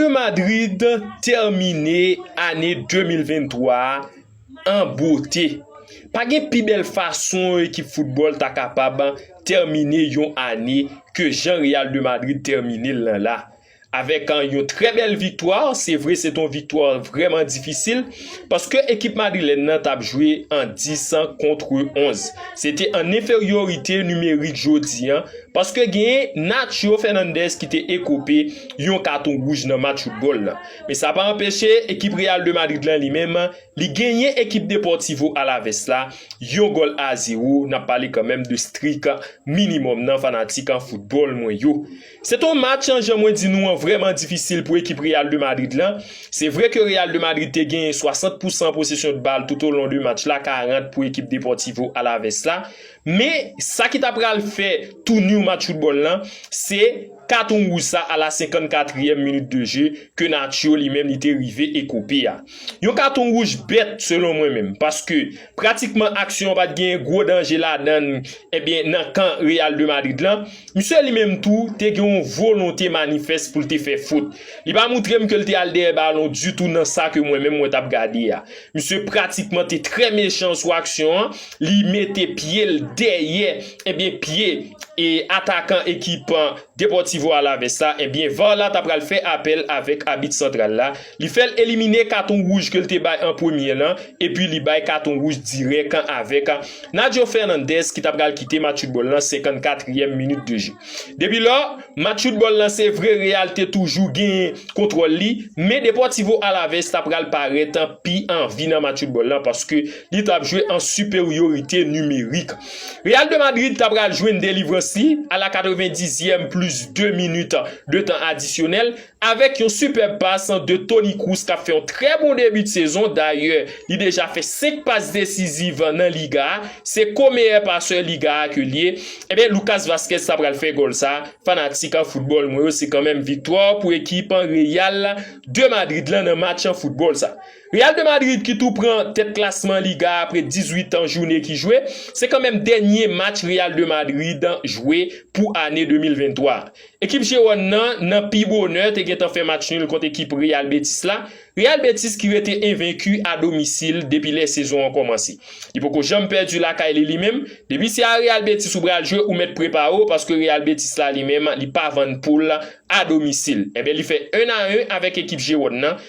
de Madrid tèmine ane 2023 a an bote. Pa gen pi bèl fason yon ekip foutbòl ta kapab tèmine yon ane ke jan Real de Madrid tèmine l lan la. Avèk yon trè bèl viktwa, se vre se te yon viktwa vrèman difisil, paske ekip madrilèn nan tap jwe an 10 an kontre 11. Se te an enferyorite nimerik jodi an, paske genyen Nacho Fernandez ki te ekope yon katon wouj nan match foutbòl la. Men sa pa anpeche ekip Real de Madrid lan li menm, li genyen ekip Deportivo Alaves la yon gòl a 0, nap pale kanmenm de strik minimòm nan fanatik foutbòl mwen yo. Se ton match an jan mwen di nou an vrèman difisil pou ekip Real de Madrid lan, se vre ke Real de Madrid te genyen 60 pou san posesyon de bal tout o lon de match la 40 pou ekip Deportivo Alaves la, men sa ki ta pral fè touniw match foutbòl lan se katon wouj sa a la 54 ryèm minit de je ke Nacho li menm li te rive ekope a. Yon katon wouj bèt selon mwen menm paske pratikman aksyon pat gen gwo danje ladan l ebyen nan kan Real de Madrid lan, misye li menm tou te gen yon volonte manifès pou l te fè fot. Li pa moutre m ke l te al dèyè balon ditou nan sa ke mwen menm mwen tap gade a. Misye pratikman te trè mechan sou aksyon an, li mete pye l dèyè ebyen pye atakan ekip Deportivo Alaves la, ebyen var la ta pral fè apèl avèk abit santral la, li fèl elimine katon wouj ke l te bay an premye lan, epi li bay katon wouj dirèk an avèk Nacho Fernandez ki ta pral kite match foutbòl lan 54 ryèm minit de je. Depi lò, match foutbòl lan se vre Real te toujou genyen kontwòl li, men Deportivo Alaves ta pral parèt pi anvi nan match foutbòl lan paske li tap jwe an siperyorite nimerik. Real de Madrid ta pral jwenn delivrans li a la 90 zièm plis 2 minit de tan adisyonèl avèk yon sipèb pas de Toni Kroos kap fè yon trè bon debi de sezon dayè li deja fè 5 pas desiziv nan liga a se ko meyè pasè liga a ke li ye ebyen Lucas Vazquez ta pral fè gòl sa fanatik foutbòl mwen yo se kanmenm viktwa pou ekip Real de Madrid lan nan match foutbòl sa. Real de Madrid ki tou pran tèt klasman Liga apre 18 an joune ki jwe, se kanmenm dènye match Real de Madrid jwe pou ane 2023. Ekip Jewòn nan nan pi bonè te gentan fè match nul kont ekip Real Betis la, Real Betis ki rete envenki a domisil depi lè sezon an kòmanse. Li poko janm pèdi lakay li limenm, depi se a Real Betis ou pral jwe ou mèt prepare w paske Real Betis la limenm li pa vann poul a domisil. Enben li fè 1 a 1 avèk ekip Jewòn nan.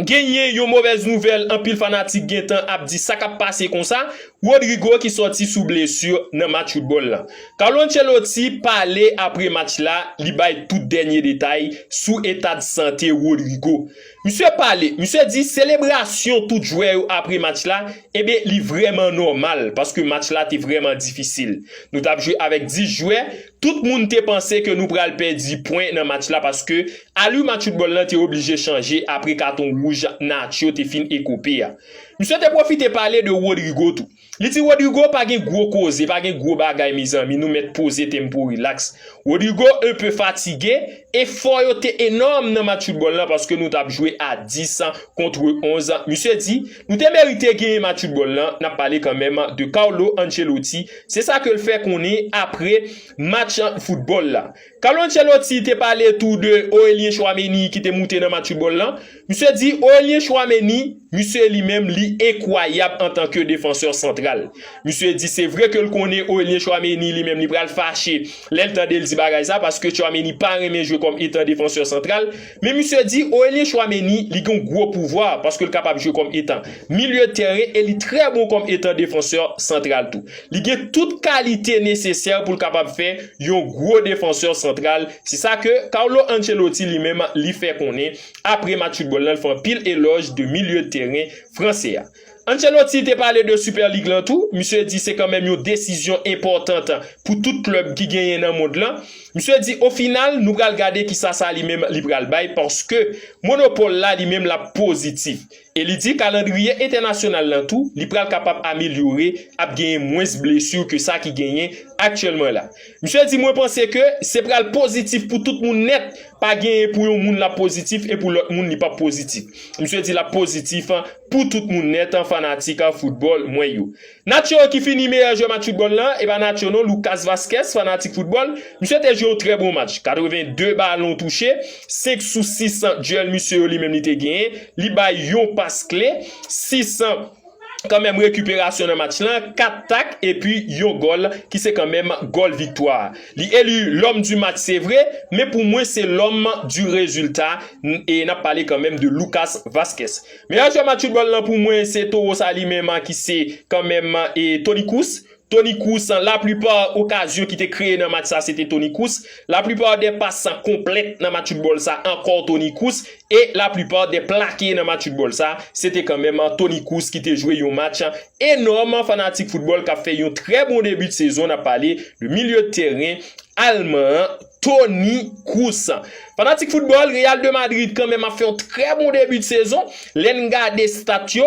Genyen yon movèz nouvèl anpil fanatik gentan ap di sa kap pase konsa, Rodrygo ki sòti sou blesu nan match foutbòl la. Carlo Ancelotti pale apre match la, li bay tout dènye detay sou etad sante Rodrygo. Misye pale, misye di selebrasyon tout jwè yo apre match la, enben li vrèman nòmal paske match la te vrèman difisil. Nou tap jwe avèk 10 jwè, Tout moun te panse ke nou pral pèdi pwen nan match la paske alur match football lan te oblije chanje apre katon wouj Nacho te fin ekope a. Misye te pwofite pale de Rodrygo tou. Li di Rodrygo pa gen gwo koze, pa gen gwo bagay mezanmi nou mèt poze tempo relax. Rodrygo un peu fatigue, efò yo te enòm nan match football lan paske nou tap jwe a 10 contre 11, misye di Ou te merite genyen match football lan, nap pale kanmenm de Carlo Ancelotti, se sa ke l fè konnen apre match football la. Carlo Ancelotti te pale tou de Aurelien Tchouaméni ki te moute nan match football lan. Misye di Aurelien Tchouaméni, misye li menm li enkwayab antan ke defansè santral. Misye di se vre ke l konnen Aurelien Tchouaméni li menm li pral fache lè l tande l di bagay sa paske Tchouaméni pa renmen jwe kòm etan defansè santral. Men misye di Aurelien Tchouaméni li gen yon gwo pouvwa paske l kapab jwe kòm etan milye tèren e li trè bon kòm etan defansè santral tou. Li gen tout kalite nesesè pou l kapab fè yon gwo defansè santral, se sa ke Carlo Ancelotti li menm li fè konnen apre match foutbòl la, l fè anpil elòj de milye tèren fransè a. Ancelotti te pale de Super League lan tou, misye di se kanmenm yon desizyon enpòtant pou tout klèb ki genyen nan mond lan. Misye di o final nou pral gade kisa sa li menm li pral bay paske monopòl la li menm lap pozitif. E li di kalandriye entènasyonal lan tou li pral kapab amelyore ap genyen mwens blesu ke sa ki genyen aktyèlman la. Misye di mwen panse ke se pral pozitif pou tout moun nèt, pa genyen pou yon moun lap pozitif e pou lòt moun li pap pozitif. Misye di lap pozitif pou tout moun nèt fanatik foutbòl mwen yo. Nacho ki fini meyè jwè match foutbòl la, e pa Nacho non Lucas Vazquez fanatik foutbòl, misye te jwe yon trè bon match, 82 balon touche, 5 sou 6 dyèl misye yo li menm li te genyen, li bay yon pas kle, 6 kanmenm rekiperasyon nan match lan, 4 tak epi yon gòl ki se kanmenm gòl viktwa. Li eli lòm di match se vre, men pou mwen se lòm di rezilta e nap pale kanmenm de Lucas Vazquez. Meyè jwè match foutbòl lan pou mwen se Toro sa li menm ki se kanmenm Toni Kroos. Toni Kroos, La plipa okazyon ki te kreye nan match sa se te Toni Kroos, la plipa dè pas san konplèt nan match foutbòl sa ankò Toni Kroos e la plipa dè plake nan match foutbòl sa se te kanmèm Toni Kroos ki te jwe yon match enòm fanatik foutbòl kap fè yon trè bon debi de sezon nap pale de milye de tèren Alman an Toni Kroos. Fanatik foutbòl Real de Madrid kanmèm ap fè yon trè bon debi de sezon lèn gade stat yo.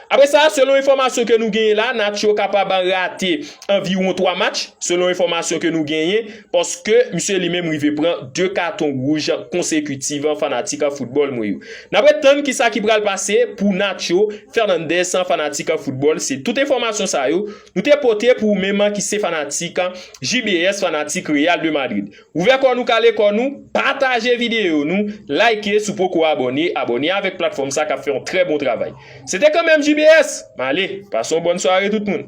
Apre sa, selon enfòmasyon ke nou genyen la, Nacho kapab rate anviwon 3 match, selon enfòmasyon ke nou genyen, paske misye li menm rive pran 2 katon wouj konsekitiv fanatik foutbòl mwen yo. N ap ret tann kisa ki pral pase pou Nacho Fernandez fanatik foutbòl, se tout enfòmasyon sa yo nou te pote pou ou menm ki se fanatik JBS fanatik Real de Madrid. Ouvè kò nou kale kò nou, pataje videyo nou, like si w poko abòne, abòne avèk platfòm sa kap fè yon trè bon travay. Se te kanmèm JBS! M ale, pase yon bòn sware tout moun.